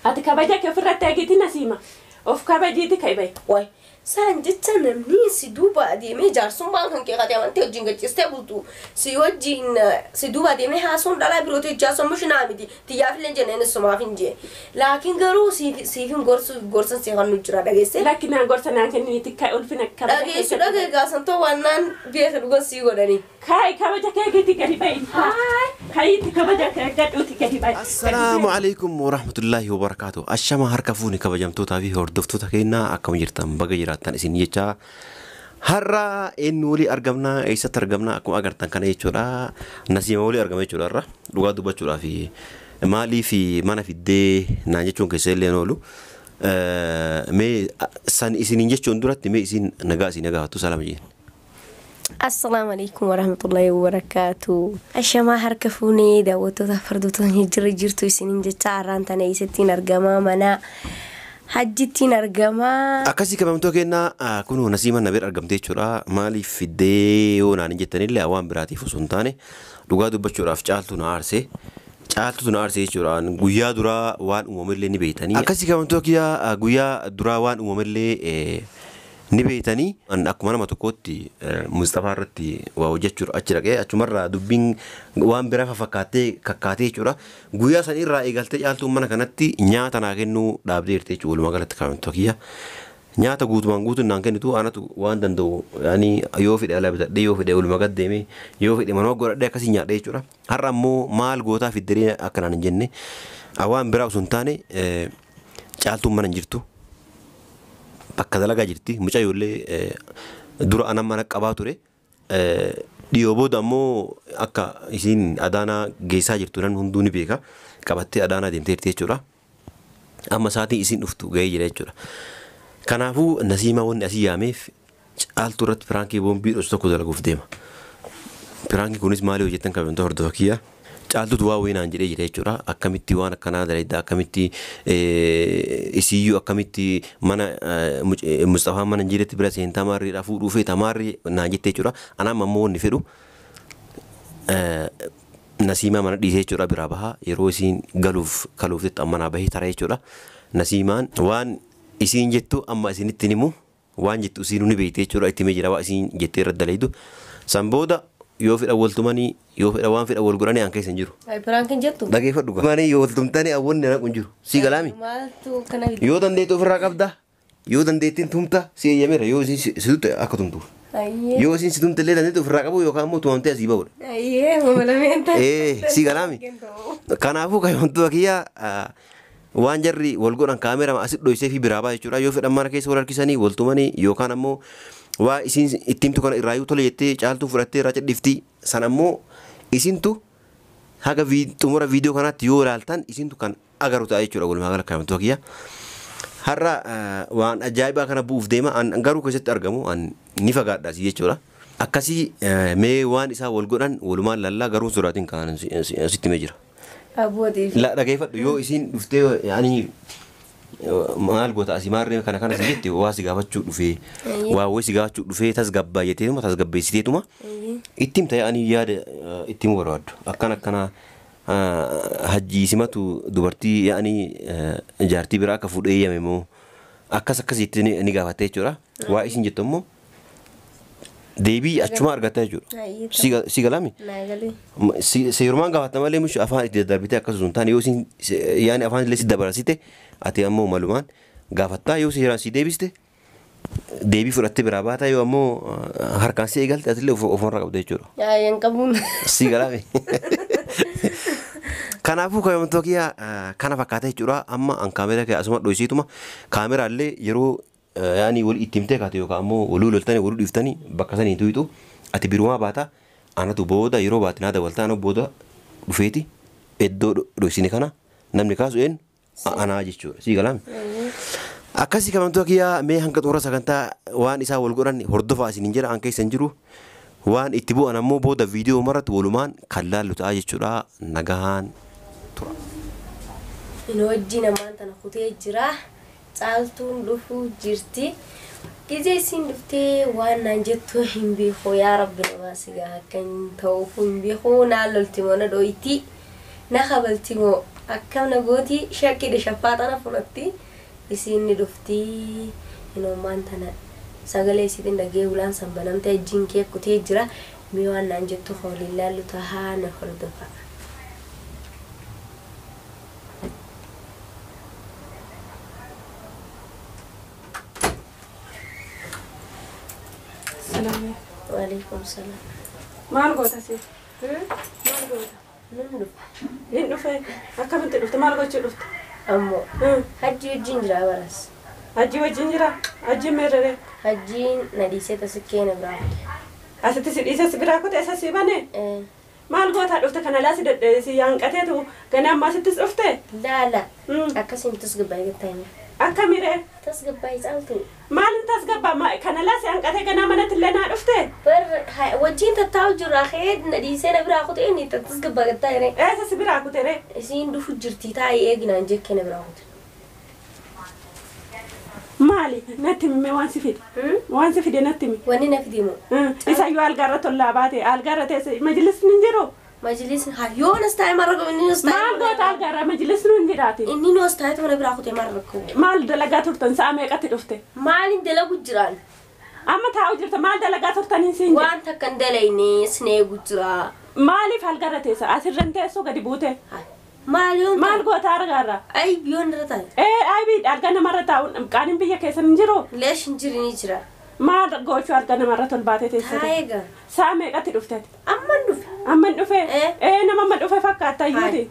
Ati kabaja ke ofirratti egiti nasiima of kabajiiti ka'i bahi. Wly saan jecha namni si duuba adeemee jaarsummaan kan kee kati amantee wajjin gaccistee bultu si wajjin si duuba adeemee haasoon dhalaa birooti wajjin haasoon mushinaa miti tiyyaafillee jenne inni sumaafin jee laakiin garuu siifin gorsu gorsan si kannu jira dhageesse Lakki naa gorsa naan kennini tikka ulfina kabaja dhageessu keessatti. dhageegaa santoo waannaan beeka dhugan sii godhanii. Kaayi kabaja keekeetii gadi ba'i. Kayiitti kabaja kee eeggadhuuti gadi ba'i. Assalaamu alaikum warahmatullaahi wabarakaatu Ashama harka fuuni kabajamtootaa fi hordoftoota keenya akkam jirtan baga jiraattan isin jechaa Har'a eenyu walii argamna eessatti argamna akkuma agartan kana jechuudha Nasiima walii argama jechuudha har'a dhugaa dubbachuudhaa fi maalii fi mana fiddee naan jechuun keessa illee hin oolu Eh, mee san isiniin jechuun duratti mee isin nagaa isin nagaafattu salaama jeen Assalaamu alaikum warahmatullahi wabarakatu. Ashamaa harka fuunee daawwattoota fardootni jirra jirtu isiniin jecha har'aan tana eessattiin argamaa mana hajjittiin argamaa. Akkasii kabamtoo kennaa ah, kunoo nasiima na bira argamtee jechuudha. Maaliif fiddee yoo naan hin jettanillee waan biraatiif osoo hin taane dhugaa dubbachuudhaaf caaltuu na aarse. Caaltuutu na aarse jechuudha. An Guyyaa duraa waan uumamellee ni beektanii. Akkasii kabamtoo kiyyaa ah, guyyaa duraa waan uumamellee eh, ni beeytanii? An akkuma nama tokkootti Musxafaa irratti waa hojjachuuf achi dhaqee achuma irraa dubbiin waan biraa fafakkaattee kakkaatee jechuudha. Guyyaa san irraa eegaltee caaltuun mana kanatti nyaata naa kennuu dhaabdee jirti jechuudha walumaa galatti kaamiltoo kiyya. Nyaata guutumaan guutuun naan kennitu anatu waan danda'u yaani yoo fedhe ala bitadhee yoo fedhe oluma gad deemee yoo fedhe manuma godhadhee akkasiin nyaadha jechuudha. Har'a ammoo maal gootaa fiddaree akka naan hin jenne waan biraa osoo hin taane Caaltuun mana hin jirtu. Bakka dalagaa jirti. Mucayyoo illee dura ana mana qabaa ture. Dhiyoo booda ammoo akka isiin Adaanaa geessaa jirtu namni hunduu ni beeka. Qabattee Adaanaa deemtee jirti jechuudha. Amma sa'aatiin isiin dhuftu gahee jira jechuudha. Kanaafuu Nasiimaa wanni asii yaameef Caaltuu irratti piraankii boombii dhosu tokko dalaguuf deema. Piraankiin kunis maali yoo jettan kabajamtoota hordofa kiyya. Caaltuutu waa wayii naan jedhee jira jechuudha. Akkamitti waan akkanaa dalaydda akkamitti isiiyyuu akkamitti mana Musxafaan mana hin jiretti bira seentaa maarriidhaa fuudhuu feeta maarri naan jette jechuudha. Anaan ammoo wanni fedhu Nasiimaa mana dhiisee jechuudha biraa bahaa yeroo isiin galuuf kaluuf jettu amma naa bahee tara jechuudha. Nasiimaan waan isiin jettu amma isinitti himu waan jettu isiinu ni beekti jechuudha itti himee jira waa isiin jettee irratti dalaydu san booda yoo fedha wal tumanii yoo fedha waan fedha wal godhanii aan keessa hin jiru Ay, piraankiin jettu. dhageeffadhu gaa manii yoo wal tumtanii aan wanni naqu hin jiru sii galaami Maaltu kana fide? yoo dandeettu ofirraa qabda yoo dandeettiin tumta si eeyyameera yoo isiin si si tutte akka tumtuuf Ayyee. yoo isiin si tumte illee dandeettu ofirraa qabu yookaan immoo tumamtee asii ba'udha Ayyee, mama lameen taate. ee sii galaami Kennu. kanaafuu kayoontuu akiyyaa Waan jarri wal godhan kaameerama asit dhoysefii biraa baha jechuudha. Yoo fedhan mana keessa wal harkisanii, wal tumanii yookaan ammoo waa isiin itti himtu kana irraayuu tole jettee caaltuun fudhattee irraa cidhifti. San ammoo isintu haga vid- xumura viidiyoo kanaatti yoo ilaaltan isintu kan agaru ta'a jechuudha walumaa gala kaamtoo kiyya. Har'a eh, waan ajaa'ibaa kana bu'uuf deema an garuu keessatti argamu an ni fagaadha si jechuudha. Akkasii eh, mee waan isaan wal godhan walumaan lallaa garuu sodaatiin kan sitti mee jira. Abootiif. La dhageeffadhu yoo isiin dhuftee ani maal goota asii maarree kana kana si jette waa si gaafachuu dhufee Eeyyee. waa wayii si gaafachuu dhufee tasgabbaa jetteetuma tasgabbeessiteetuma Eeyyee. itti himta ani yaada eh, itti himuu barbaaddu akkan akkana ah, hajjii simatu dubartii yaani jaartii biraa akka fuudhee yame moo akkas akkas jettee ni ni gaafatte jechuudha waa isin jettu immoo deebii achumaa argatta jechuudha. Ayyee Si ga- si galame naa galee. Ma- si- seerumaan gaafatta malee mishi afaan itti daddarbitee akkasuma hin taane yoo isin se- yaani afaan illee si dabarsite ati ammoo malumaan gaafattaa yoo seeraan si deebiste deebii fudhattee biraa baata yoo ammoo ah, harkaan si eegalte atillee of- ofumarra qabda jechuudha. Ayyee hin qabuun. Si galame. Kanaafuu kaayomtoo kiyyaa kana fakkaata jechuudha. Amma an kaameeraa kee asuma dhoysiituma kaameraallee yeroo Yaani woli itti himtee kaate yookaa ammoo woluu loltani woluu dhiftani bakka sani hin tuyxu ati birumaa baata anatu booda yeroo baate naa dawalta ana booda dhufeeti eddoo dhoysine kana namni kaasu eenyu anaa jechuudha sii galaami akkasi kamantua kiyaa mee hanga xumura sagantaa waan isaa wol godhan hordofaa isinin jedha an keessa hin jiru waan itti bu'an ammoo booda viidiyoo marratti wolumaan kan laallu ta'a jechuudha nagahaan tura. Inoo ijji namaan tana kutee jiraa. Caaltuun dhufuu jirti. Gizee isiin dhuftee waan naan jettu hin beeku. Yaa rabbi namaa sigaa akka hin ta'uuf hin beeku. Naan lolti moo na dhooyti. Na kabalti moo akkam na gooti shakkidhe shaffaaxa na fudhatti. Isiin ni dhufti. Hinoomaan tana sagalee isiitiin dhagee hulaan san banamtee ijjiin kee kutee jira. Mee waan naan jettu ka waliin laallu tahaa na hordofaa. Waalaikum salaam. Maal goota si? Maal goota? Nan dhufa. Hin dhufe. Akkamitti dhufte? Maal gochuu dhufte? Ammoo hajji wajjin jira baras. Hajji wajjin jira? Hajji meerrere? Hajjiin na dhiisee tasikkee na biraa. Asitti si dhiisee si biraa kute isa si bane? Maal gootaa dhufte kan alaa si dadhabe si yaanqateetu gana ammaa sittis dhufte? Laala. Mm. Akkasii hin tasgabbaa'e gattaa hima. Akkami ree? Tasgabbaa'i caaltu. Maal hin tasgabbaa ma- kan alaa si hanqatee ganaa manatti illee naa dhufte? Bar ha- wajjin tattaa'u jirra kee na dhiisee na biraa kutee inni tasgabbaa gattaa hire. Eessa si biraa kute ree? Isiin dhufu jirti taa'ii eeginaan jekkee na biraa kute. Maali? Natti himi mee waan si fide. Hmm? Waan si fide natti himi. Wanni na fide moo? Hmm. Isayyuu algaa irratti ollaa baate algaa irra teesse majlisni hin jiru. Majlisni haa yoo nas taa'e maal rakkoo inni nas taa'e. Maal goota algaa irra majlisni hin jiraati. Inni nas taa'e mana biraa kutee maal rakkoo. Maal dalagaa turtan sa'a meeqatti dhufte? Maaliin dalagu jiraan? Amma taa'u jirta maal dalagaa turtaniin siin jedhe. Waan takka hin dalayne sin eegu jira. Maaliif algarra teessa? Asirra hin teessuu gadi buutee. Hay. Maal yoon Maal taa'u? goota argaarra? Ayib yoon irra taa'e. Ee aybi alga namarra taa'uun qaaniin biyya keessan hin jiru? Leesh hin jiri ni jira. Maal goochuu alga namarra tolbaatee teessate? Taa'ee gaa. Saa meeqatti dhuftati? Amman dhufe. Amman dhufe? Ee. Ee nama amma dhufe fakkaatta Hay. iyyuuti.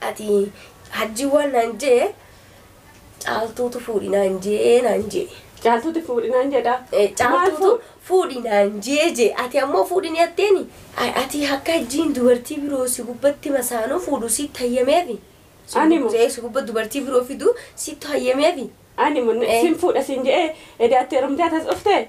Ati hajjii waan naan jee caaltuutu fuudhi naan jee naan jee. Caaltuuti fuudhi naan jedhaa. Eh, Caaltuutu fuudhi naan jee jee ati ammoo fuudhi ni atteeni. A- Ati akka hajjiin dubartii biroo si gubbatti masaanuu fuudhu sitti hayyameefi. Si Ani moo? gubbatti- Si gubba dubartii biroo fidu sitti hayyameefi. Ani mun Eh. sin fuudha sin je'ee edaattee rumtee atas dhuftee.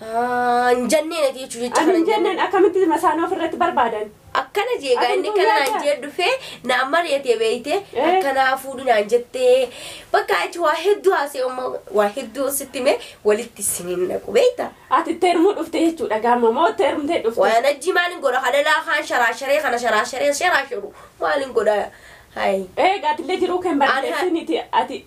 Haa hin jenneen ati jechuun jecha Ani kana hin jenneen. jenneen akkamitti masaanoo ofirratti barbaadan? Akkana jee gaa inni Aduun kana guyyaa naan jee dhufee naan mari'atee beeyte Eh. akkanaa fuudhi naan jettee bakka achi waa hedduu haasee umma waa hedduu sitti mee walitti isiniin naqu beeyta. Ati itti heerumuu dhufte jechuudha gaama moo itti heerumtee dhufte? Waan ajji maalin godha halalaa kaan sharaasharee kana sharaasharee sharaasharu maalin godha hayi. Eegaa atillee jiruu kee hin Ani- barreessiniiti ati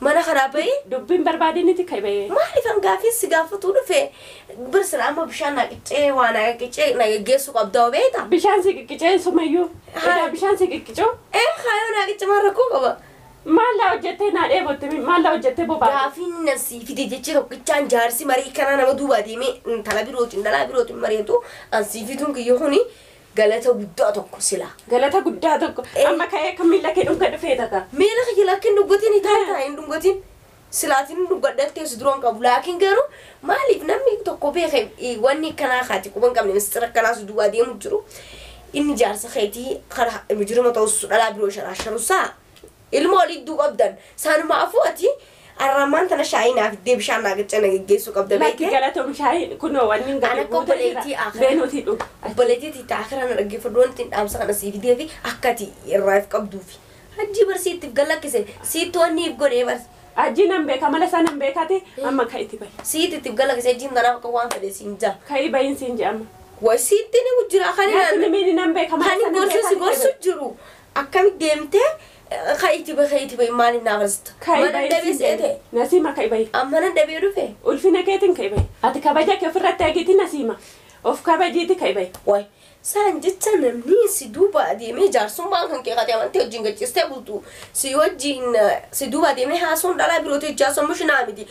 Mana kanaa bahi. Dubbii hin barbaadiniti ka'i bahi. Maaliif an gaaffiin si gaafatuu dhufe bir silaa amma bishaan naa qiccee waa naa qiccee na geggeessuu qabda hoo beekta. Bishaan si qiqqicee sumayyuu. Haa. Edaa bishaan si qiqqicuu. Ee haa yoo naa qicce maal rakkoo qaba. Maal naa hojjettee naa dheebotte mi maal naa hojjettee bobaate. Gaaffiin inni an sii fide jechi tokkichaan jaarsi marii kanaa nama duubaa deemee intala birootiin dhalaa birootiin mari'atu an sii fiduun kiyya kuni Galata guddaa tokko silaa. Galata guddaa tokko. Ee. Amma ka'ee akka miila kee dhunga dhufee tata. Miila kiyya lakki hin dhungatiin hitaa hitaa hin dhungatiin. Silaatiin hin dhungadhee ta'e si duraan qabu. Laakiin garuu maaliif namni tokko beeke eh, wanni akkanaa kaati quba hin qabne mistira akkanaa si duwwaa deemu jiru. Inni jaarsa keetii karaa mujirima ta'us dhalaa biroo sharaa sharusaa. Ilmoo liddu qabdan sanumaafu ati arraammaan tana shaayii naa fiddee bishaan naa gacca na geggeessuu qabda Lakki beekte galatoom shaayii kunoo wanni Ana gadi akka buutee jira. obboleettii akhiraa. Bee nuti dhuga. obboleettii tiitaa akhiraa na dhaggeeffadhu wanti ittiin dhaamsa kana sii fidee fi akka ati irraa if qabduufi hajjii bar siitti if gallakkise siitti wanni if godhee bar Ajii nan beeka mala isaa nan beekati amma ka itti bahi. siitti itti if gallakkise hajjiin tanaaf akka waan fedhe siin jaa Ka ii bahin siin jedhama. way siitti ni jira kan Natti ilaalu nimiini nan beeka mala kan isaa nan gorsu si beekati gorsu jedhu. jiru Akkamit deemtee ka'i itti bahi ka'i itti bahi maaliif naa afarsita? Ka'i Mana bahi dhabee siin se'ee jedhe. ta'e. Nasiima ka'i bahi. An mana dhabee dhufe. Ulfina keetiin ka'i bahi. Ati kabaja kee ofirratti eegiti Nasiima. Of kabajiiti ka'i bahi. Waay saan jecha namni si duuba adeemee jaarsummaan kan kee kati amantee wajjin gachiistee bultu si wajjin si duuba adeemee haasawuun dhalaa birootii wajjin haasawuun mushinaa miti.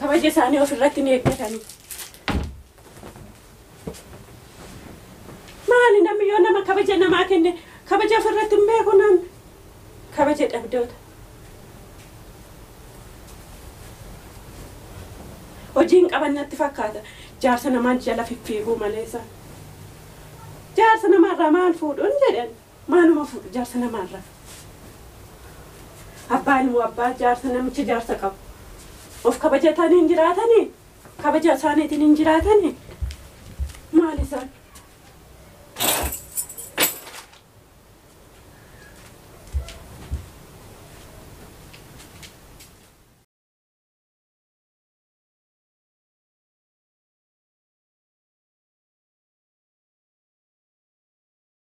kabaja isaanii of irratti hin eeggatani. Maali namni yoo nama kabaja namaa kenne kabaja of irratti hin beeku namni kabaja dhabdoota. Hojiin qaban natti fakkaata jaarsa namaan jala fiffiiguu maleessa. Jaarsa namaarraa maal fuudhuun jedhan. Maaluma fuudhu jaarsa namaa irraa. Abbaa ilmoo abbaa jaarsa namicha jaarsa qabu. Of kabajatanii hin jiraatanii? Kabaja isaaniitiin hin jiraatanii? Maal isaan?